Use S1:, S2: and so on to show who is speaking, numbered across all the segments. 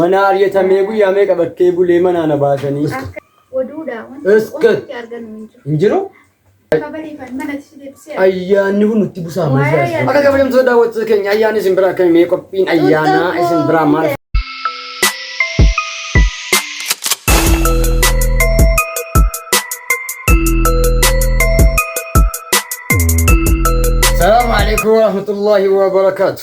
S1: Manaa aryatamee guyyaa meeqa bakkee bulee manaa na baasanii. Oduudha wanti Iska. ofitti argannu hin jiru. Hin jiru? Kabariifan manatti si deebisee. Ayyaanni kun nutti busaa Waa'ee malee. ayyaana- Akka kabajamtoota daawwattoota keenya ayyaanni isin biraa akkami mee qophiin ayyaanaa isin biraa maal Salaamu alaikum warahmatullahi wabarakaatu.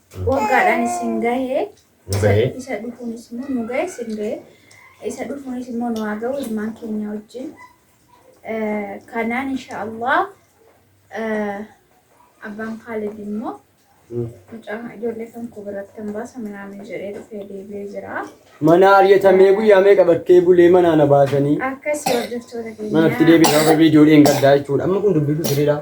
S1: Waggaadhaan isin gahe. Isa dhufuunis immoo nu gahe isin gahe. Isa dhufuunis immoo nu haa gahu ilmaan keenya wajjin. Kanaan insha Allah abbaan Kaalid immoo mucaa ijoollee kan koo biratti hin baasa minaamin jedhee dhufee deebi'ee jira. Mana ariyatamee guyyaa meeqa bakkee bulee manaa na baasanii. Akkasii hordoftoota keenya. Manatti deebi'ee gaafa ijoolleen gaddaa jechuudha. Amma kun dubbisu sirriidhaa.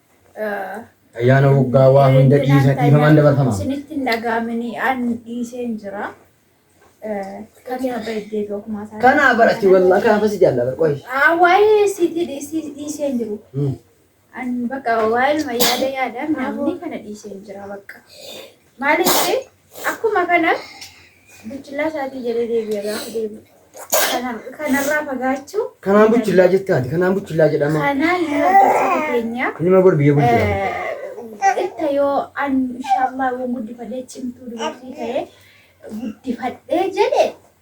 S1: Ayyaana waggaa waa hunda dhiisa dhiifamaan dabarfama. Isinitti hin dhaga'amini an dhiiseen jira. Kamiin abba iddee dookumaa isaa. Kana barati wallah kana fasi jalla bar qoy. Waa'ee siiti dhiiseen jiru. An bakka waa'ee yaada yaadaan namni kana dhiiseen jira bakka. Maaliif Akkuma kana buchillaa isaatii jedhee deebi'ee gaafa deebi'u. Kanarraa fagaachuu. Kanaan buchillaa jettaati. Kanaan buchillaa jedhama. Kanaan hojjettoota keenya. Kunima bor biyya bulchudha. Itta yoo an inshaallah waan guddifadhee cimtuu dubartii ta'ee guddifadhee jedhe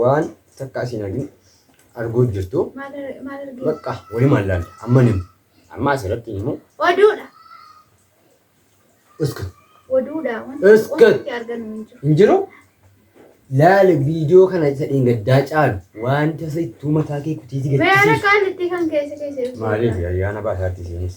S2: Waan takka asiin argin arguu jirtu. Maal ar- maal argee?
S1: Bakka walumaan laalla.
S2: Amma hin himu. Amma asirratti hin himu. Oduudha. Uskut. Oduudha. Wanti
S1: Iskut. ofitti
S2: argannu hin
S1: jiru. Hin jiru?
S2: Laala viidiyoo kana isa dheengaddaa caalu wanta sittuu mataa kee kutiiti Bayana gaddisiisu. qaalitti
S1: kan keessa keessa. Maaliif ayyaana
S2: baasaatti isiinis?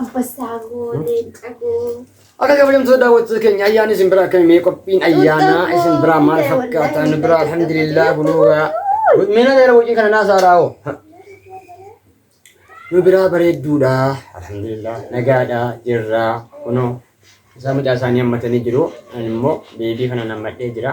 S1: Ambassaa koo, leenca koo. Akka kabajamtoota
S2: daawwattoota keenya ayyaanni isin biraa akkamii mee qophiin ayyaanaa isin biraa maal fakkaata nu biraa alhamdulillah kunuugaa meena dheera wajjin kana naa saaraa hoo nu biraa bareedduudha alhamdulillah nagaadha jirra kunoo isaa mucaa isaanii hammatanii jiru ani immoo beebii kana nammadhee jira.